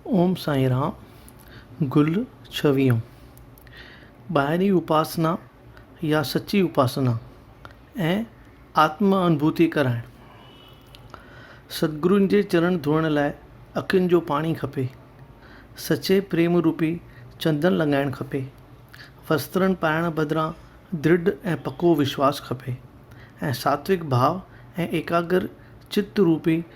اوم سائين رام گل ڇويهون ٻاهرين اپاسنا يا سچي اپاسنا ۽ آتم انڀوتي ڪرائڻ ستگرن جي چرڻ ڌوئڻ لاء اکين جو پاڻي کپي سچي پريم روپي چندن لڳائڻ کپي وسترن پائڻ بدران درڍ ۽ پڪو وشواس کپي ۽ ساتوڪ ڀاء ۽ ايڪاگر چت روپي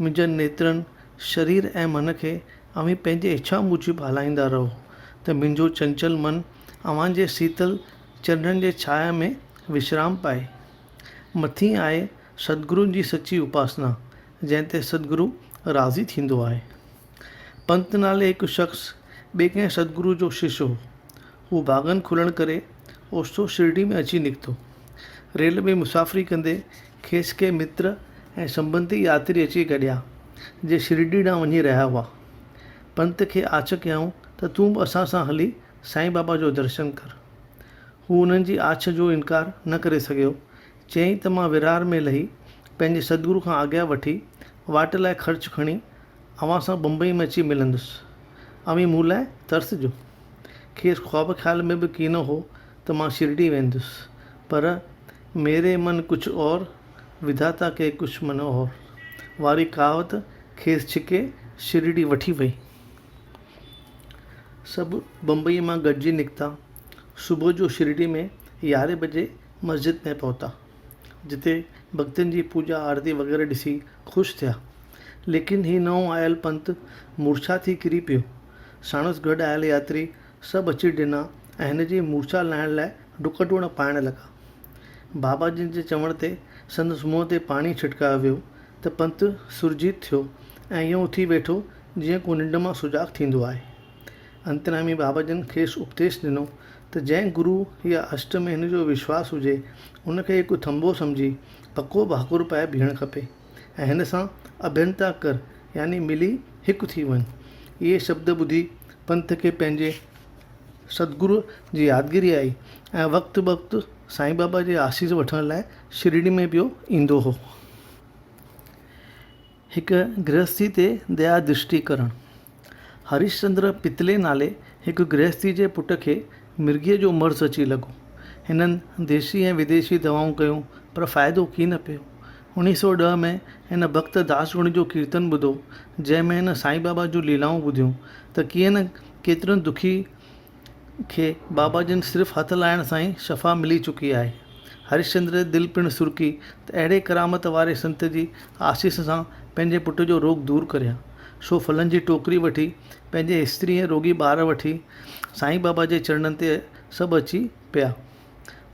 منهنجن نيترن، شرير ۽ من کي اوهين پنهنجي اڇا موجب هلائيندا رهو، ته منهنجو چنچل من اوهان جي سيتل چرنن جي ڇانء ۾ وشرام پائي. مٿين آهي ستگرون جي سچي اپاسنا، جنهن تي ستگرو راضي ٿيندو آهي. پنت نالي هڪ شخص ٻئي ڪنهن ستگرو جو شش هو. هو ڀاڳن کلڻ ڪري اوچتو شرڊي ۾ اچي نڪتو. ريل ۾ مسافري ڪندي کيس ڪي متر ۽ سنبنڌي ياتري اچي گڏيا، جي شرڊي ڏانهن وڃي رهيا هئا. پنت کي آڇ ڪيائون ته تون به اسان سان هلي سائين بابا جو درشن ڪر. هو انهن جي آڇ جو انڪار نه ڪري سگهيو. چيائين ته مان ورهاڙ ۾ لهي پنهنجي سدگرو کان آگيا وٺي واٽ لاء خرچ کڻي اوهان سان بمبئيء ۾ اچي ملندس. اوهين مون لاء ترسجو. کيس خواب خيال ۾ به ڪينه هو ته مان شرڊي ويندس. پر ميري من ڪجهه اور، وڌاتا ڪي ڪجهه من اور واري ڪهاوت کيس ڇڪي شرڊي وٺي وئي. سڀ بمبئيء مان گڏجي نڪتا. صبح جو شرڊي ۾ يارهين بجي مسجد ۾ پهتا. جتي ڀڳتن جي پوڄا آرتي وغيره ڏسي خوش ٿيا. ليڪن هي نئون آيل پنت مورڇا ٿي ڪري پيو. ساڻس گڏ آيل ياتري سڀ اچي ڊنا ۽ هن جي مورڇا لاهڻ لاء ڊڪ ڊوڙ پائڻ لڳا. بابا جن جي چوڻ تي سندس منهن تي پاڻي ڇٽڪايو ويو ته پنت سرجيت ٿيو ۽ ائين اٿي ويٺو جيئن ڪو ننڊ مان سجاڳ ٿيندو آهي. انتريامي بابا جن کيس اپديش ڏنو ته جنهن گرو يا اشٽ ۾ هن جو وشواس هجي، ان کي هڪ ٿنڀو سمجهي پڪو ڀاڪر پائي بيهڻ کپي ۽ هن سان اڀينتا ڪر يعني ملي هڪ ٿي وڃ. اهي شبد ٻڌي پنت کي پنهنجي ستگرو جي يادگيري آئي ۽ وقت بوقت سائين بابا جي آسيس وٺڻ لاء شرڙي ۾ پيو ايندو هو. هڪ گرهستي تي ديا درشٽي ڪرڻ. هرشچندر پتلي نالي هڪ گرهستي جي پٽ کي مرگيء جو مرض اچي لڳو. هنن ديسي ۽ وديسي دوائون ڪيون پر فائدو ڪي نه پيو. اڻيهه سؤ ڏهه ۾ هن ڀڳت داسگڻ جو ڪيرتن ٻڌو، جنهن ۾ هن سائين بابا جون ليلائون ٻڌيون ته ڪيئن نه ڪيترن دکي کي بابا جن صرف هٿ لائڻ سان ئي شفا ملي چڪي آهي. هرشچندر جي دل پڻ سرڪي ته اهڙي ڪرامت واري سنت جي آسيس سان پنهنجي پٽ جو روڳ دور ڪريان. سو ڦلن جي ٽوڪري وٺي پنهنجي استري ۽ روڳي ٻار وٺي سائين بابا جي چرڻن تي سڀ اچي پيا.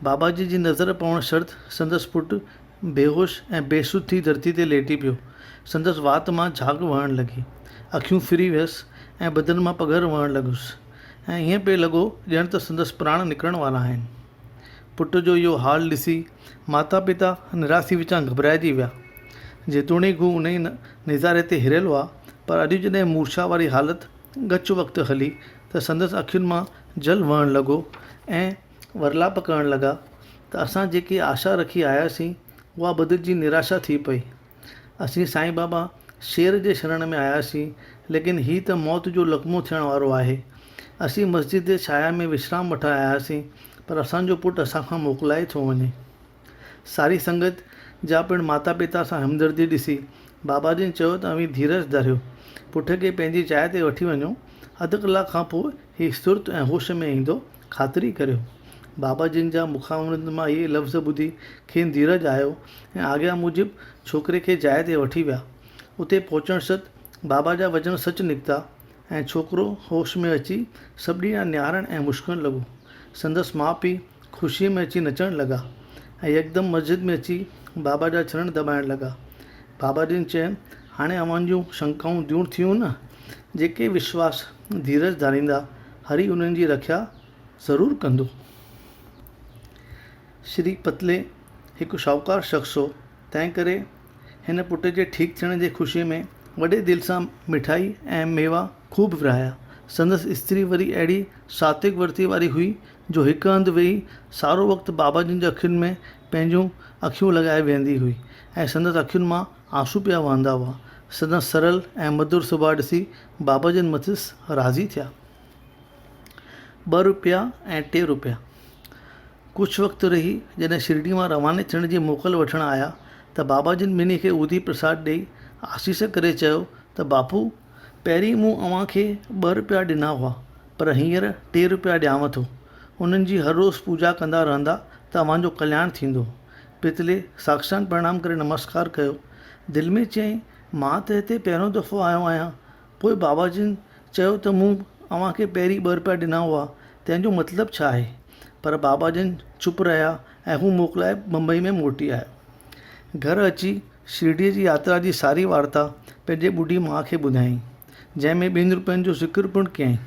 باباجي جي نظر پوڻ شرط سندس پٽ بيهوش ۽ بي سڌ ٿي ڌرتي تي ليٽي پيو. سندس وات مان جھاگ وهڻ لڳي. اکيون ڦري ويس ۽ بدن مان پگهر وهڻ لڳس ۽ ائين پئي لڳو ڄڻ ته سندس پراڻ نڪرڻ وارا آهن. پٽ جو اهو حال ڏسي ماتا پتا نراسي وچان گهٻرائجي ويا. جيتوڻيڪ هو انهيء نظاري تي هريل هئا پر اڄ جڏهن مورڇا واري حالت ڳچ وقت هلي ته سندس اکين مان جل وهڻ لڳو ۽ ورلاپ ڪرڻ لڳا ته اسان جيڪي آشا رکي آيا سين اها بدلجي نراشا ٿي پئي. اسين سائين بابا شير جي شرڻ ۾ آيا سين ليڪن هي ته موت جو لقمو ٿيڻ وارو آهي. اسين مسجد جي ڇايا ۾ وشرام وٺڻ آيا سين پر اسان جو پٽ اسان کان موڪلائي ٿو وڃي. ساري سنگت جا پڻ ماتا پتا سان همدردي ڏسي بابا جن چيو ته اوهين ڌيرج ڌريو. پٽ کي پنهنجي جاء تي وٺي وڃو. اڌ ڪلاڪ کان پوء هي سرت ۽ هوش ۾ ايندو، خاطري ڪريو. بابا جن جا مکاوند مان اهي لفظ ٻڌي کين ڌيرج آيو ۽ آگيا موجب ڇوڪري کي جاء تي وٺي ويا. اتي پهچڻ ست بابا جا وچن سچ نڪتا. ۽ ڇوڪرو هوش ۾ اچي سٻڏي ڏانهن نهارڻ ۽ مشڪڻ لڳو. سندس ماء پيء خوشيء ۾ اچي نچڻ لڳا ۽ يڪدم مسجد ۾ اچي بابا جا چرڻ دٻائڻ لڳا. بابا جن چين، هاڻي اوهان جون شنڪائون دور ٿيون نه؟ جيڪي وشواس ڌيرج ڌاريندا، هري انهن جي رکيا ضرور ڪندو. شري پتلي هڪ شاهوڪار شخص هو. تنهن ڪري هن پٽ جي ٺيڪ ٿيڻ جي خوشيء ۾ وڏي دل سان مٺائي ۽ ميوا خوب ورهايا. سندس استري وري اهڙي ساتوڪ ورتيء واري هئي، جو هڪ هنڌ ويهي سارو وقت بابا جن جي اکين ۾ پنهنجون اکيون لڳائي ويهندي هئي ۽ سندس اکين مان آنسو پيا وهندا هئا. سندس سرل ۽ مڌر سڀاء ڏسي بابا جن مٿس راضي ٿيا. ٻه روپيا ۽ ٽي روپيا. ڪجهه وقت رهي جڏهن شرڊي مان رواني ٿيڻ جي موڪل وٺڻ آيا ته بابا جن ٻنهي کي اودي پرساد ڏيئي آسيس ڪري چيو ته باپو پهرين مون اوهان کي ٻه روپيا ڏنا هئا پر هينئر ٽي روپيا ڏيانو ٿو. انهن جي هر روز پوڄا ڪندا رهندا ته اوهان جو ڪلياڻ ٿيندو. پتلي ساکشان پرڻام ڪري نمسڪار ڪيو. دل ۾ چيائين مان ته هتي پهريون دفعو آيو آهيان پوء بابا جن چيو ته مون اوهان کي پهرين ٻه رپيا ڏنا هئا، تنهن جو مطلب ڇا آهي؟ پر بابا جن چپ رهيا ۽ هو موڪلائي بمبئي ۾ موٽي آيو. گهر اچي شرڊيء جي ياترا جي ساري وارتا پنهنجي ٻڍي ماء کي ٻڌايائين، جنهن ۾ ٻن رپين جو ذڪر پڻ ڪيائين.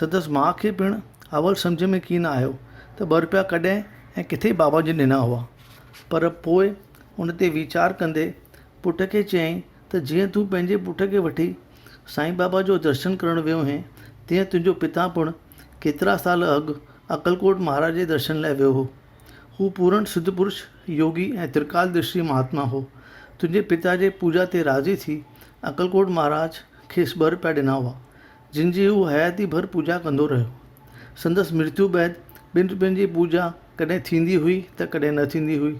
سندس ماء کي پڻ اول سمجهه ۾ ڪين آيو ته ٻه رپيا ڪڏهن ۽ ڪٿي بابا جن ڏنا هئا، پر پوء ان تي ويچار ڪندي پٽ کي چيائين ته جيئن تون پنهنجي پٽ کي وٺي سائين بابا جو درشن ڪرڻ ويو هئين، تيئن تنهنجو پتا پڻ ڪيترا سال اڳ اڪلڪوٽ مهاراج جي درشن لاء ويو هو. هو پورڻ سڌ پرش، يوگي ۽ ترڪال درشي مهاتما هو. تنهنجي پتا جي پوڄا تي راضي ٿي اڪلڪوٽ مهاراج کيس ٻر پيا ڏنا هئا، جن جي هو حياتي ڀر پوڄا ڪندو رهيو. سندس مرتيو بعد ٻن روپين جي پوڄا ڪڏهن ٿيندي هئي ته ڪڏهن نه ٿيندي هئي.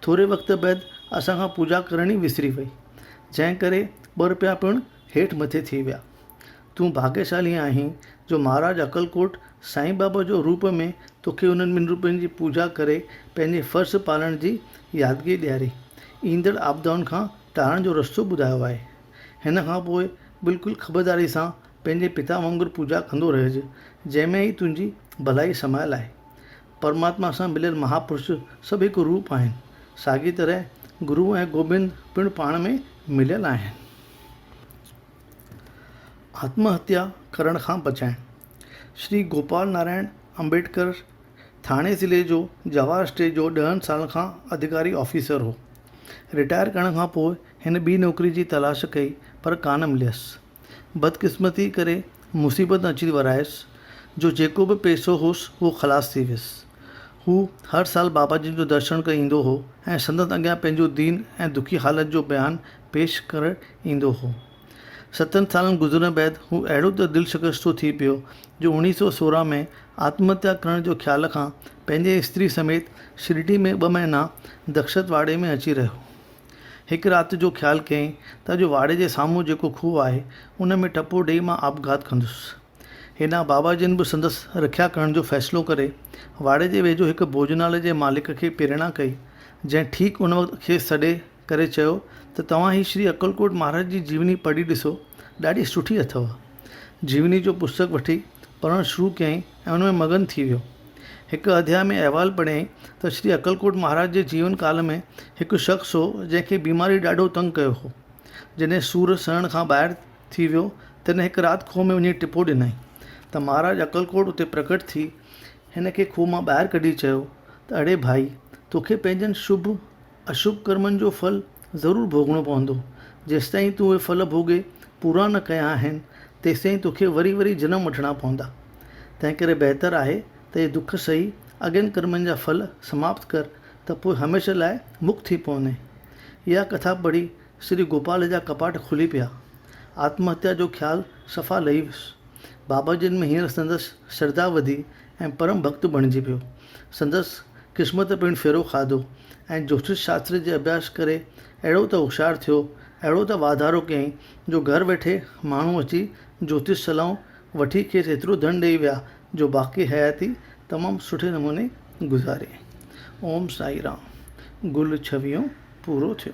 ٿوري وقت بعد اسان کان پوڄا ڪرڻ ئي وسري وئي، جنهن ڪري ٻه روپيا پڻ هيٺ مٿي ٿي ويا. تون ڀاڳيشالي آهين جو مهاراج اڪلڪوٽ سائين بابا جو روپ ۾ توکي انهن ٻن روپين جي پوڄا ڪري پنهنجي فرض پالڻ جي يادگي ڏياري، ايندڙ آپدائن کان ٽارڻ جو رستو ٻڌايو آهي. هن کان پوء بلڪل خبرداري سان پنهنجي پتا وانگر پوڄا ڪندو رهج، جنهن ۾ ئي تنهنجي ڀلائي سمايل آهي. پرماتما سان مليل مهاپرش سڀ هڪ روپ آهن. ساڳي طرح گرو ۽ گوبند پڻ پاڻ ۾ مليل آهن. آتم هتيا ڪرڻ کان بچائڻ. شري گوپال نارائڻ امبيڊڪر ٿاڻي ضلعي جو جواهر اسٽيٽ جو ڏهن سالن کان اڌڪاري آفيسر هو. رٽائر ڪرڻ کان پوء هن ٻي نوڪري جي تلاش ڪئي پر ڪانه مليس. بدقسمتيء ڪري مصيبت اچي ورايس، جو جيڪو به پئسو هوس، اهو خلاص ٿي ويس. هو هر سال بابا جن جو درشن ڪرڻ ايندو هو ۽ سندن اڳيان پنهنجو دين ۽ دکي حالت جو بيان پيش ڪرڻ ايندو هو. ستن سالن گذرڻ بعد هو اهڙو ته دلشڪستو ٿي پيو، جو اڻيهه سؤ سورهن ۾ آتمهتيا ڪرڻ جي خيال کان پنهنجي استري سميت شرڊي ۾ ٻه مهينا دخشت واڙي ۾ اچي رهيو. هڪ رات جو خيال ڪيائين ته اڄ واڙي جي سامهون جيڪو کوهه آهي، ان ۾ ٽپو ڏيئي مان آپگهات ڪندس. هيڏانهن بابا جن به سندس رکيا ڪرڻ جو فيصلو ڪري، واڙي جي ويجهو هڪ ڀوڄنالي جي مالڪ کي پريڻا ڪئي، جنهن ٺيڪ ان وقت کيس سڏي ڪري چيو ته توهان هي شري اڪلڪوٽ مهاراج جي جيوني پڙهي ڏسو، ڏاڍي سٺي اٿئو. جيوني جو پستڪ وٺي پڙهڻ شروع ڪيائين ۽ ان ۾ مگن ٿي ويو. هڪ اڌيائي ۾ احوال پڙهيائين ته شري اڪلڪوٽ مهاراج جي جيون ڪال ۾ هڪ شخص هو جنهن کي بيماري ڏاڍو تنگ ڪيو هو. جڏهن سور سهڻ کان ٻاهر ٿي ويو تڏهن هڪ رات کوهه ۾ وڃي ٽپو ڏنائين ته مهاراج اڪلڪوٽ اتي پرگٽ ٿي هن کي کوهه مان ٻاهر ڪڍي چيو ته اڙي ڀائي توکي پنهنجن شڀ اشڀ ڪرمن جو ڦل ضرور ڀوڳڻو پوندو. جيستائين تون اهي ڦل ڀوڳي پورا نه ڪيا آهن، تيستائين توکي وري وري جنم وٺڻا پوندا. تنهنڪري بهتر آهي ته اهي دک سهي اڳين ڪرمن جا ڦل سماپت ڪر ته پوء هميشه لاء مڪت ٿي پوندين. اها ڪٿا پڙهي سري گوپال جا ڪپاٽ کلي پيا. آتمهتيا جو خيال صفا لهي ويس. باباجين ۾ هينئر سندس شرڌا وڌي ۽ پرم ڀڳت بڻجي پيو. سندس قسمت پڻ ڦيرو کاڌو ۽ جوتش شاستر جي اڀياس ڪري اهڙو ته هوشيار ٿيو، اهڙو ته واڌارو ڪيائين جو گهر ويٺي ماڻهو اچي جوتش صلاحون وٺي کيس ايترو ڌن ڏئي ويا جو باقي حياتي تمام سٺي نموني گذاري. اوم سائين رام. گل ڇويهون پورو ٿيو.